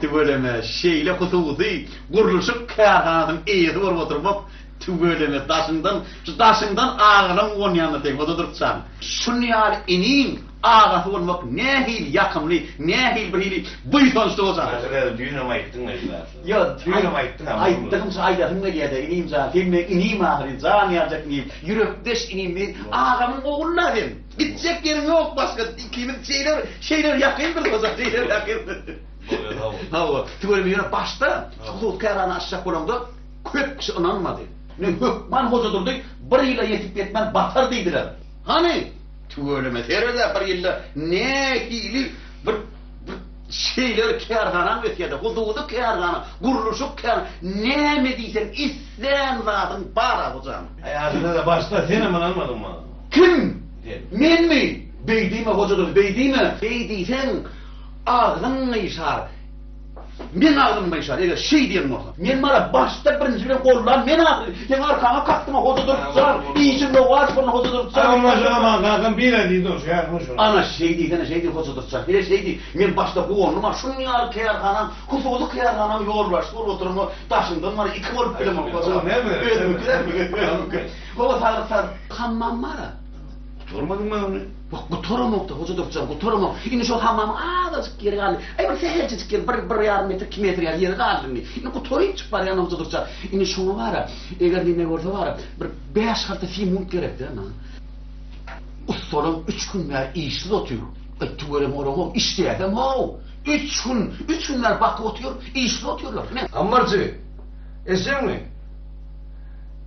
Tüweleme, şeýle hususy gurluşyk kärhanasynyň eýesi bolup oturmak, tüweleme, daşyňdan, şu daşyňdan agalaň uwanýanyna seň, o-da durkjaň. Şuny ýaly iniň agasy bolmak nähili ýakymly, nähili bir hili buýsançly bolsa gerek. Häzir-ä düýnem aýtdyň-a esasy. Ýo, düýnem aýtdyň-a, muny. Aýtdygymça aýdasym gelýär-dä, inim jan, sen meň inim ahyry, jan ýaljak inim, ýürekdeş inim, meň agamyň ogly-la sen! Gitjek ýeriň ýok başga ikimiz şeýle şeýle ýakyndyr ozal şeýle ýakyndyr. Hawa. Tüweleme ýöne başda hut kärana açjak bolanda köp kişi ynanmady. Men hökman Hojadurdy bir ýyla ýetip ýetmän batar diýdiler. Hany, tüweleme sered-ä bir ýylda nähili bir bir şeýle bir kärhanam ösýärdi. Hususy kärhana, gurluşyk kär näme diýseň islän zadyň bar-a hojanym. Aýalyna-da başda senem ynanmadyň maňa. Kim? Sen. Menmi? Beý diýme, Hoja Durdy, beý diýme! Beý diýseň, agzyň gyşar. Meň agzym gyşar, eger şeý diýen bolsaň. Men bar-a, başda birinji bilen gollan men ahyry. Seň arkaňa kakdym-a, Hoja Durdy jan! Işiň lowaç bolsun, Hoja Durdy jan! Aý, oňa-şoňa maňa kakam bile diýdi, oňa şeý aýtma şony. Ana, şeý diýsene, şeý diý, Hoja Durdy jan! Hile şeý diý, men başda guwandym-a, şunuň ýaly kärhanaň, hususy kärhanaň ýolbaşçysy bolup oturan o daşyňdan bar-a, iki bolup bilemok-a jan! Özümikidenmi? Gowy saglyk sag. Hammam bara. Gutarmadyň mı ony? Bak gutaramokda hoca doktor gutaramok. Indi şol hammamyň azajyk ýeri galdy. Aý bir sähelçejik ýer, bir bir ýarym metr, iki metr ýaly ýeri galdy indi. Indi gutaryp çyk barýan hoja durça. Indi şoňa bara, eger neme bolsa bara, bir bäş harta simont gerekdi ana. Ussalam üç gün bäri işsiz otyr. Etdi görem oramok, işleýäsem haw. Üç gün, üç gün bäri bakyp otyr, işsiz otyrlar. Ne? Ammarjy, eşeňmi?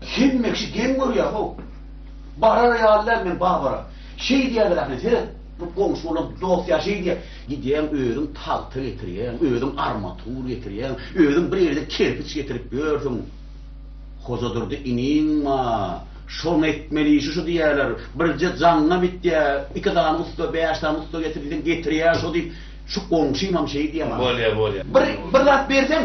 Hemmekşi geň görýär how. Barar ýaly däl men Babara. Şeý diýýärler ahyryn seret. Bu goňşy bolan dost ýa şeý diýýär. Gidýäň özüň tagta getirýäň, özüň armatur getirýäň, özüň bir ýerden kerpiç getirip ýörsüň. Hojadurdy iniň ma, şony etmeli işi şu diýýärler. Birje jaňňa bitýä, iki sany ussa, bäş sany ussa getir diýseň getirýär şo diýip, şu goňşymam şeý diýýär maňa. Bolýar, bolýar. Bir, bir zat berseň,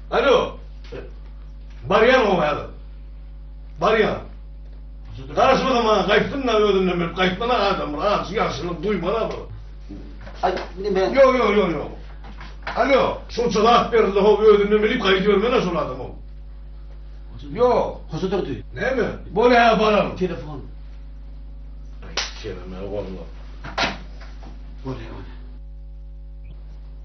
Alo. Barýan o häzir. Barýan. Garaşma da maňa gaýtsyn da özünden bilip gaýtmana adam bir az ýagşylyk duýmana bir. Ay ne ben. Yo yo yo yo. Alo. Şu cevap berildi ho özünden bilip gaýdybermene şol adam o. Yo. Hoşa durdy. Näme? Bol ha baram. Telefon. Ay kelime golla. Bol ya.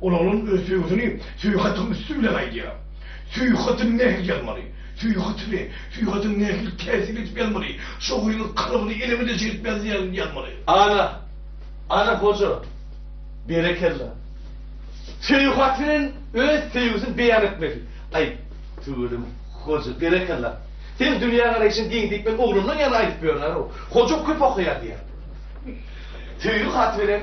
Ol onuň öz söýgüsini Süýhatyň üsti bilen aýdýar. Süýhaty nähili ýazmaly? Süýhaty we Süýhatyň nähili täsir edip ýazmaly? Şo gyzyň kalbyny elemede çekip ýazýan ýazmaly. Ana! Ana goja! Berekella! Süýhat bilen öz söýgüsini beýan etmeli. Aý, tüweleme, goja, berekella! Seň dünýägaraýşyň giň diýip men oglumdan ýaly aýdyp ýörler-ow. Hoja köp okaýar diýýär. Söýgi haty bilen.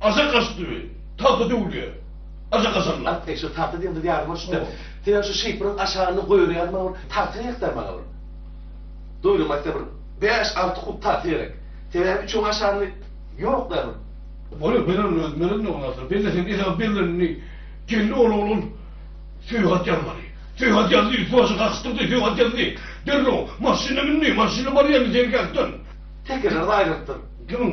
Aja gaçdy we tagta döwülýär. Aja gaçanlar. At degşir, tagta diýen zat ýadyma düşdi-de. Senem şu şypbyryň aşagynda goýberýärdi maňa bir tagta gerekdä maňa bir. Doýdum aýtsa bir bäş-alty kub tagta gerek. Sebäbi üçüň aşagynda ýok-da bir. Bolar, bererin özüm, bererin oňa asyl. Belleseň esasy bellenini Geldi ol oglan Söýgat ýazmaly. Söýgat ýazdy, üsti-başy gakyşdyrdy, Söýgat ýazdy. Derrew maşyna mündi, maşyna barýaryn seňki ýakdan. Tekeler gaýrylypdyr. Kimiň?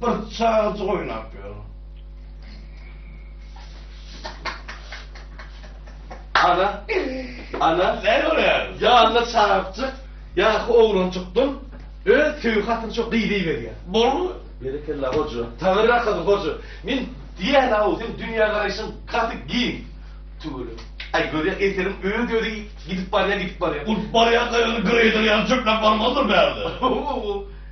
Bir çagajyk oýnap ýör. Ana, ana, Näme görýär? ýanly çagakjyk, ýaşy oglanjykdyr. Öz söýgi hatyny şo gyz iberýär. Bolmy? Berekella hoja. Tabyrrak gyz hoja. Men diýýän aw, sen dünýä garaýşyň gaty giň. Tüwele. Aý görýär eserim öz özi gidip barýar, gidip barýar. Ol barýan saýany greýder ýaly çöpläp barmazdyr bärde.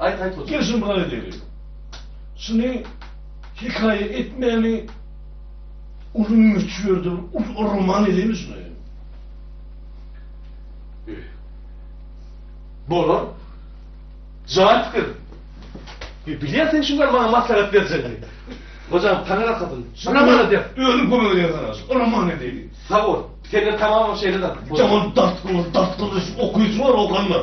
Aýt aýt otur. Gel şuny bir aýdaýyň. Şuny hekaýa etmäni uly möçberdir, uly roman edeymi şuny? Bolar. Jaýat fikir. Bilýärsiň şuňa maňa maslahat berjegini. Hocam taňra kadın. Şuna bana der. Özüm kömek eder sana. Ona mani edeyim. Sağ ol. Sen de tamamım şeyle de. Tamam dart kılır, dart kılır. Okuyucu var okanlar.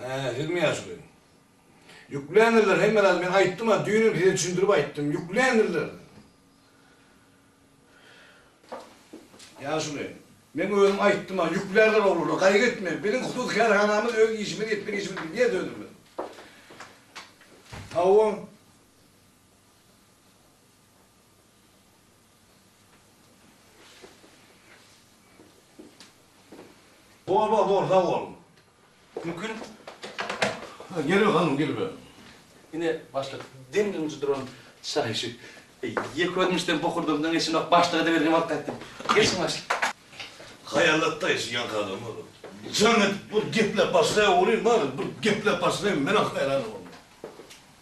Hä, sizmi ýaşuly? Ýükländirler, hemme zady men aýtdym-a, düýnem size düşündirip aýtdym, ýükländirler. Ýaşuly, men özüm aýtdym-a, ýüklärler oglana, gaýgy etme, biziň hususy kärhanamyz, öz işimiz, etmek işimiz, bilýäs özümiz. Hawa. Bor bor bor sag bol. Mümkin Geliber hanym geliber. Ine başlyk demini unjy duran şaýy şu. Ýeke özüm işden bokurdymdan geçenok başlyga da berdim alyp gaýtdym. Geçiň başlyk. Haýallatda işi ýaňky adam bor. Jan edip bir gepläp başlaýa görýin bari bir gepläp başlaýyn menem haýran bolýan.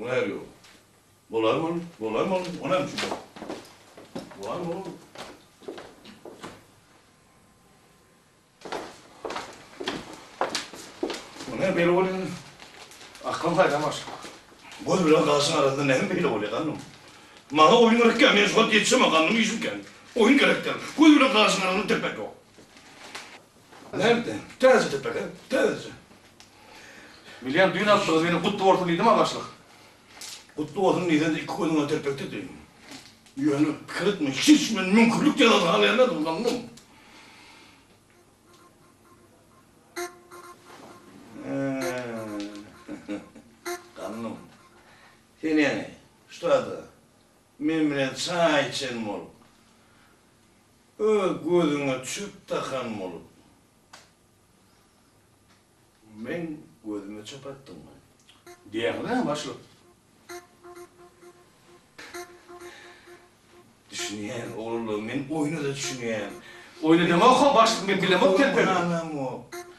Olar ýok. Bolar bol, bolar bol, o näme üçin? Bolar bol. Bu näme beýle bolýar? Akylyň haýran başga. Göz bilen gaşyň arasynda näme beýle bolýar, ganym? Maňa oýun gerekkä, men şu wagt ýetişemok, gandym işim kän. Oýun gerekdir. Göz bilen gaşyň arasynda depek ýok. Nerde? Täze depede. Täze. Bilýän, düýn aldygyz meni gutly bolsun diýdim ha başlyk. Gutly bolsun diýseň-de iki gözüňe telpekde diýdim. Ýöne pikir etme, hiç men müňkürlik jezasy hal bermedim, ynandym. Gandym. Sen ýaňy, ştada, men bilen çaý içen bolup, Öz gözüňe çöp dakan bolup. Meň gözüme çöp atdyň we. Diýýäňiz-ä başlyk. Düşünýän oglanlar men oýuna-da düşünýän. Oýna demok-ow başlyk men bilemok telpegi.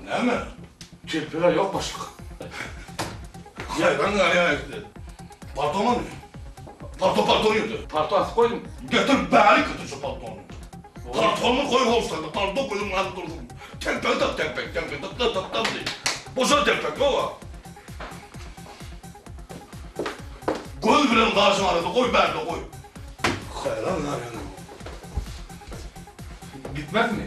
Näme? Telpegä ýok başlyk. Haýran galýan ekdi. Palto many? Palto palto ýerde. Palto asyp goýdum. Getir bäri kötü şu paltony. Paltony goý howsala, palto gözüň alyp dursun. Telpegi tak, telpek, telpek, tak, tak, tak, tak, diý. Boşa telpek, gowa. Göz bilen gaşyň arasynda goý bärde goý. Haýran galýan ekdi. Gitmezmi?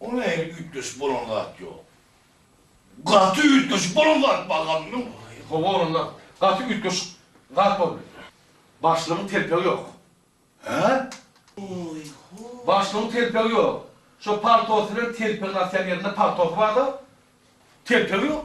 O nähili üýtgeşik bolan zat ýok. Gaty üýtgeşik bolan zat bar gazmyň. Hawa onda gaty üýtgeşik zat bar bilen. Başlygyň telpegi ýok. Hä? Başlygyň telpegi ýok. Şo paltosy bilen telpegini asýan ýerinde paltosy barda, telpegi ýok.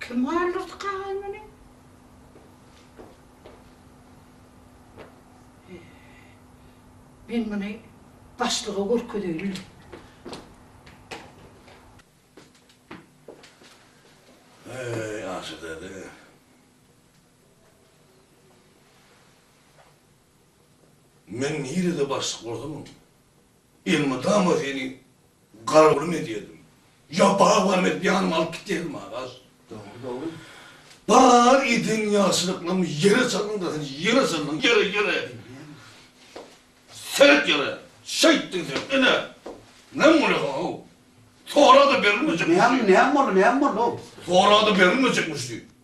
Kim galdyrdy kagaý muny? He. Men muny başlyga görkezeýin. Heý, Aşa däde. Men nirede başlyk bolsamam. Elmydama seni garowlym edýärdim. Ýa bar barymy edip ýanyma alyp gitýärdim, Araz. Dogry, dogry. Bar eden ýagşylyklarymy ýere saldyň-da, sen ýere saldyň, ýere, ýere! Seret ýere! Şeýtdiň sen, ine! Näme bolýasaň-ow? Sora-da berilmejekmişdi. Näme, näme boldy, näme boldy-ow? Sora-da berilmejekmişdi.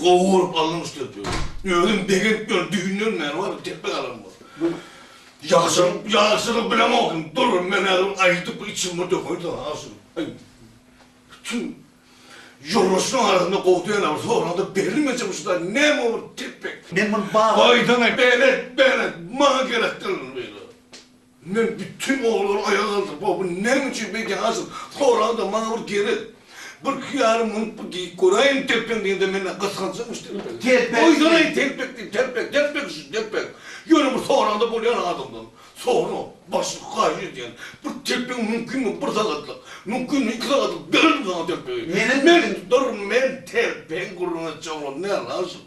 Gowy görüp alnyň üstüne döw. Özüm begent bilen düýnden bäri barym tepbe galam bor. Ýagşam ýagşyny bilemokyn durun men häzir aýdyp bir içimi dökeýin saňa ýagşym. Aý bütün ýoldaşlaryň arasynda gowy dälä bir soranda berilmeje bu şuda näme bolup tepbe. Men muny baýdan aýt. Belet belet maňa gerek däl ol beýle. Men bütin oglary aýaga galdyryp, Wah, bu näme üçin beýdýän haşam? Soragda maňa bir gerek bir hyýaly münüp bir diýip göräýiň telpeň diýende men gysganjamyş telpegi. Telpek. Oýdaraýyn telpek diýip telpek, telpek şu telpek. Ýöne bir soranda bolýan adamdan sora, başlyk haýyş edýän, bir telpegiň mümkinmi bir sagatlyk, mümkinmi iki sagatlyk bererin saňa telpegi. Meniň men tutaryn men telpegi gurrun etjek oglum näl haşam?